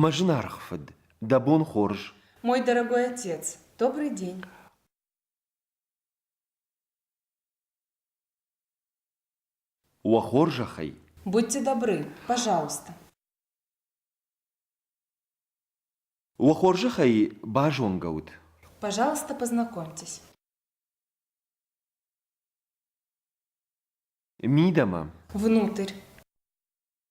Мӕ зынаргъ фыд, дӕ бон хорз. Мой дорогой отец, добрый день. Уӕ хорзӕхӕй. Будьте добры, пожалуйста. Уӕ хорзӕхӕй базонгӕ ут. Пожалуйста, познакомьтесь. Мидӕмӕ. Внутрь.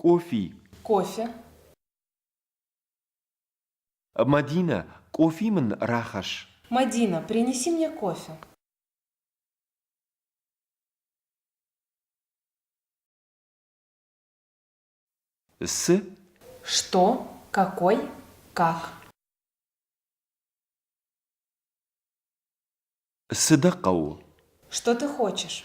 Къофи. Кофе. Мадинӕ, кофе мын рахӕсс. Мадина, принеси мне кофе. С. Что, какой, как. Сыда хъӕуы? Что ты хочешь?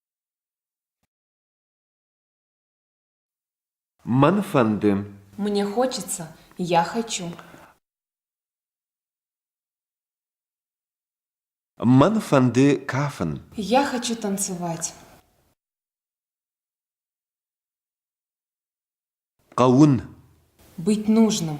Мӕн фӕнды. Мне хочется. Я хочу. Мӕн фӕнды кафын. Я хочу танцевать. Хъӕуын. Быть нужным.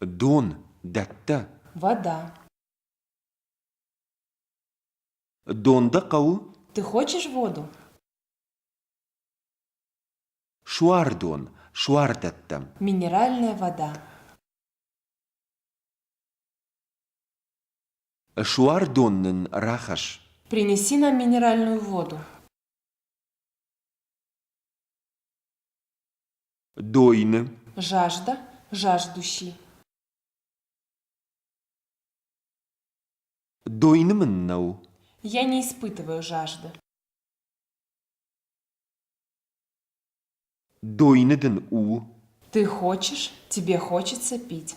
Дон дӕттӕ? Вода. Дон дӕ хъӕуы? Ты хочешь воду? Суардон, суардӕттӕм. Минеральная вода. Суардон нын рахӕсс. Принеси нам минеральную воду. дойны жажда жаждущий дойны мын нӕу я не испытываю жажды дойны дын у ты хочешь тебе хочется пить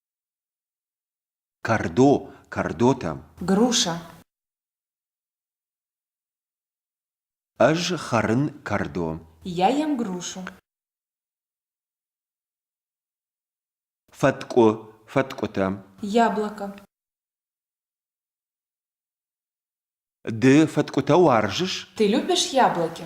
Кӕрдо, кӕрдотӕм. Груша. Ӕз хӕрын кӕрдо. Я ем грушу. Фӕткъуы, фӕткъуытӕм. Яблоко. Ды фӕткъуытӕ уарзыс? Ты любишь яблоки?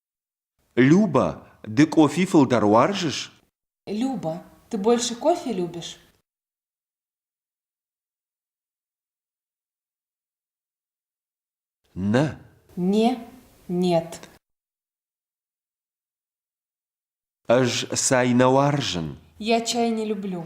Люба, ды къофи фылдӕр уарзыс? Люба, ты больше кофе любишь? Нэ. Не, нет. Ӕз цай нӕ уарзын. Я чай не люблю.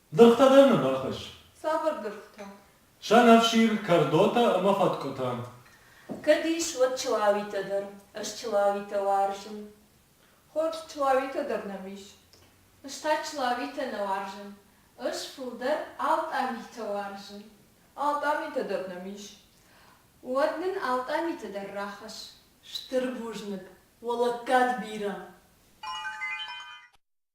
Дыргътӕ дӕр нын рахӕсс. Цавӕр дыргътӕ? Сӕнӕфсир, кӕрдотӕ ӕмӕ фӕткъуытӕ. Кӕд ис, уӕд чылауитӕ дӕр. Ӕз чылауитӕ уарзын. Хорз, чылауитӕ дӕр нӕм ис. Ӕз та чылауитӕ нӕ уарзын. Ӕз фылдӕр алтъамитӕ уарзын. Алтъамитӕ дӕр нӕм ис. Уӕд нын алтъамитӕ дӕр рахӕсс. Стыр бузныг, уӕ лӕггад бирӕ!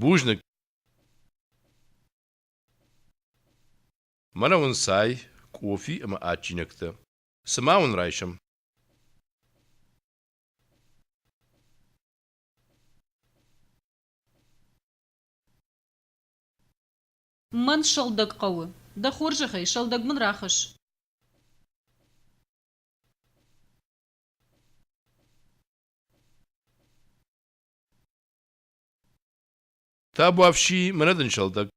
Бузныг. Мӕнӕ уын цай, кофе ӕмӕ адджинӕгтӕ. Цы ма уын райсӕм? Мӕн сыгъдӕг хъӕуы. Дӕ хорзӕхӕй, сыгъдӕг мын рахӕсс. Табуафси, мынӕ дын сӕлдӕг.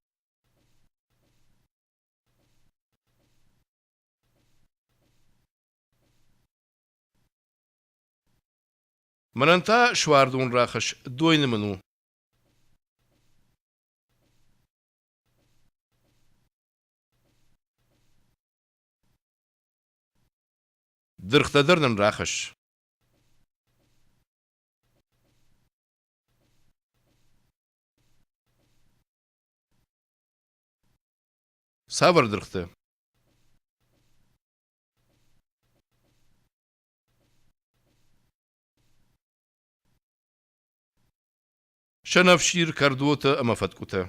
Мӕнӕн та суардон рахӕсс, дойны мын у. Дыргътӕ дӕр нын рахӕсс. Цавӕр дыргътӕ? Сӕнӕфсир, кӕрдотӕ ӕмӕ фӕткъуытӕ.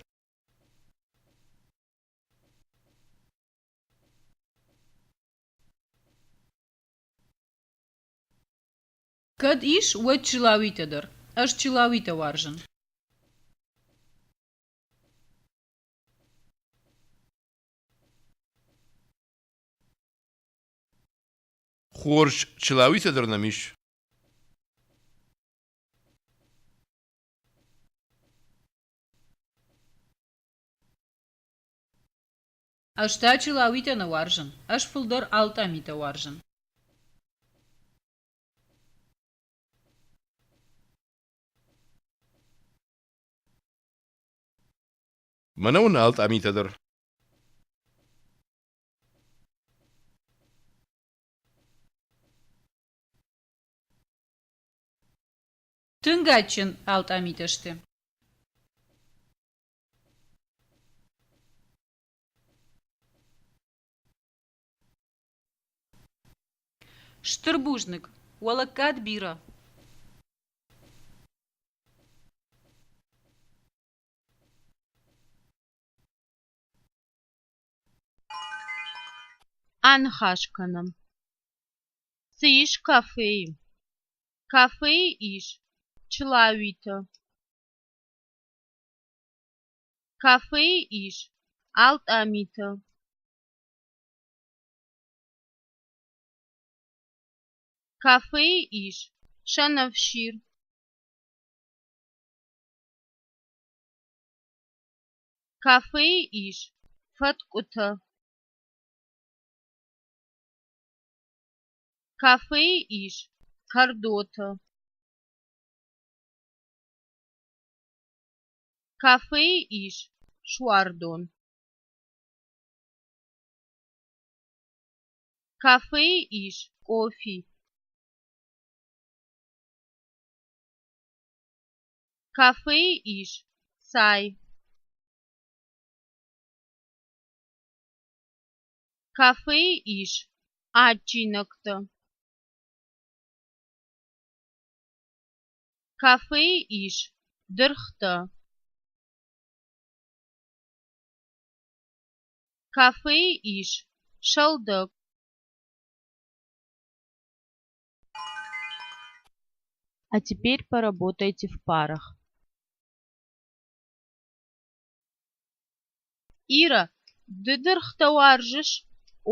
Кӕд ис, уӕд чылауитӕ дӕр. Ӕз чылауитӕ уарзын. Хорз, чылауитӕ дӕр нӕм ис. Ӕз та чилауитӕ нӕ уарзын, ӕз фылдӕр алтъамитӕ уарзын. Мӕнӕ уын алтъамитӕ дӕр. Тынг адджын алтъамитӕ сты. Стыр бузныг, уӕ лӕггад бирӕ! Аныхас кӕнӕм. Цы ис кафейы? Кафейы ис чылауитӕ. Кафейы ис алтъамиты. Кафейы ис сӕнӕфсир. Кафейы ис фӕткъуытӕ. Кафейы ис кӕрдоты. Кафейы ис суардон. Кафейы ис кофи. Кафейы ис цай. Кафейы ис адджинӕгтӕ. Кафейы ис дыргътӕ. Кафейы ис сӕлдӕг. А теперь поработайте в парах. Ирӕ, ды дыргътӕ уарзыс?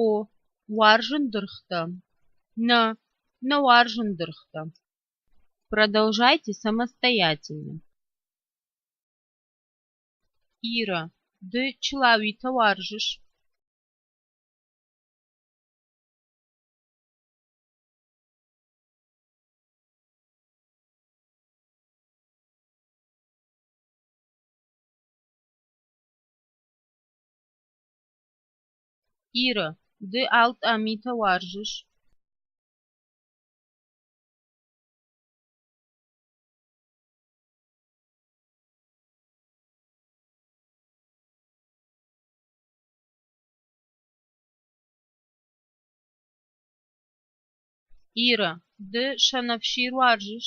О, уарзын дыргътӕ. Нӕ, нӕ уарзын дыргътӕ. Продолжайте самостоятельно. Ирӕ, ды чылауитӕ уарзыс? Иры, ды алтъа митӕ уарзыс? Иры, ды сӕнӕфсир уарзыс?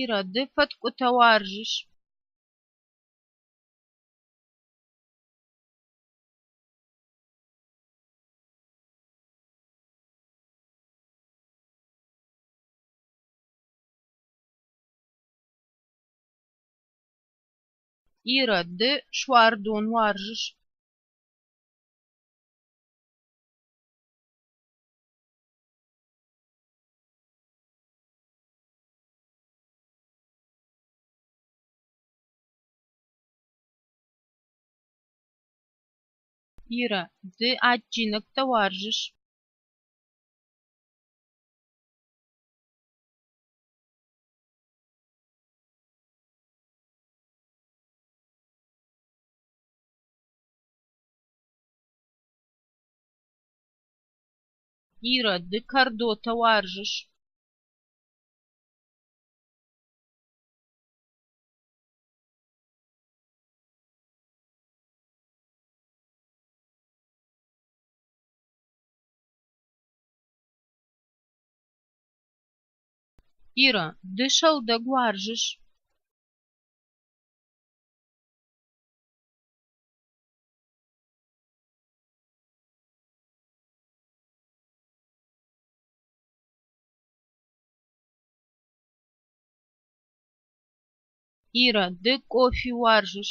Ирӕ, ды фӕткъуытӕ уарзыс? Ирӕ, ды суардон уарзыс? Ирэ, ды адджинӕгтӕ уарзыс? Ирӕ, ды кӕрдотӕ уарзыс? Ирӕ, ды сӕлдӕг уарзыс? Ира, ды кофе уарзыс?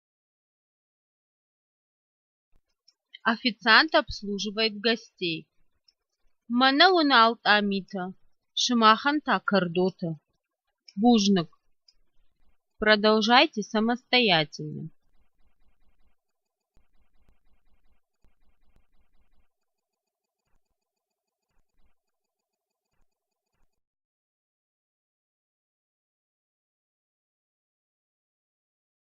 официант обслуживает гостей мӕнӕ уынал тъамитӕ сымахӕн та кӕрдотӕ бузныг продолжайте самостоятельно